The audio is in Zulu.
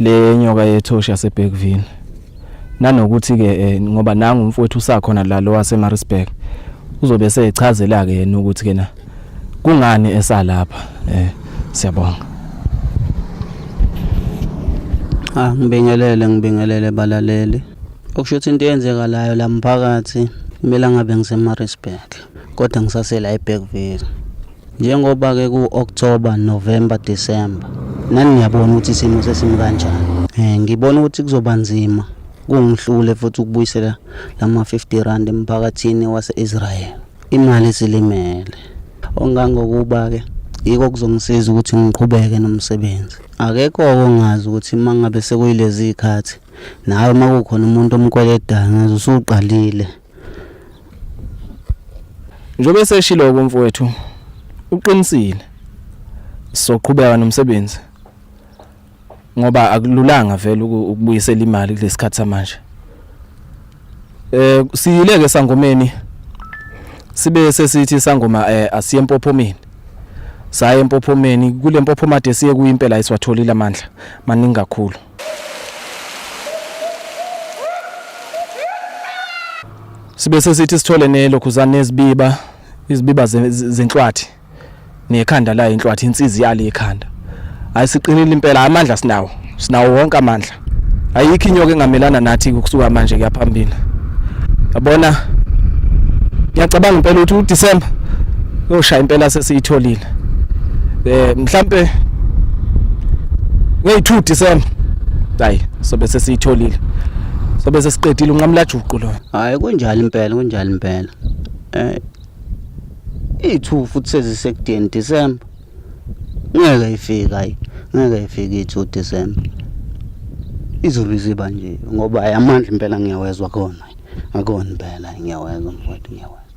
le nyoka yethoshi yaseBergville nanokuthi ke eh, ngoba nangu umfowethu usakhona la lo waseMaritzburg uzobe sechazela ke yena ukuthi ke na kungani esalapha eh siyabonga Ah ngibingelele ngibingelele balaleli okusho ukuthi into eyenzekalayo la mphakathi kumele ngabe ngiseMaritzburg kodwa ngisasela eBergville Njengoba ke ku October, November, December nani niyabona ukuthi isimo sesimi kanjani. Eh ngibona ukuthi kuzoba nzima kungihlule futhi ukubuyisela lama 50 rand emphakathini wase-Israel. Imali silimele. Ongangokuba ke yiko kuzongisiza ukuthi ngiqhubeke nomsebenzi. Akekho ongazi ukuthi uma ngabe sekuyilezi zikhathi nawe uma kukhona umuntu omkweledayo ngaze usuqalile. Njobe seshilo kumfowethu uqinisile soqhubeka nomsebenzi ngoba akululanga vele ukubuyisela imali kulesikhathi samanje eh siyileke sangomeni sibe sesithi sangoma eh asiye empophomeni saye empophomeni kule mpophomade siye kuyimpela isiwatholile amandla maningi kakhulu sibe sesithi sithole nelokhuzane nezibiba izibiba zenhlwathi nekhanda layo inhlwathi insizi yalo ikhanda hayi siqinile impela amandla sinawo sinawo wonke amandla ayikho inyoka engamelana nathi ukusuka manje kuyaphambili yabona ngiyacabanga impela ukuthi uDecember yoshaya impela sesiyitholile eh mhlambe ngey2 December hayi sobe sesiyitholile sobe sesiqedile unqamlajuqu lo hayi kunjalo impela kunjalo impela eh i2 futhi sezisekudeni December ngeke ifika hayi ngeke ifike i2 December izulu iziba nje ngoba amandla impela ngiyawezwa khona akona impela ngiyawezwa mfowethu ngiyawezwa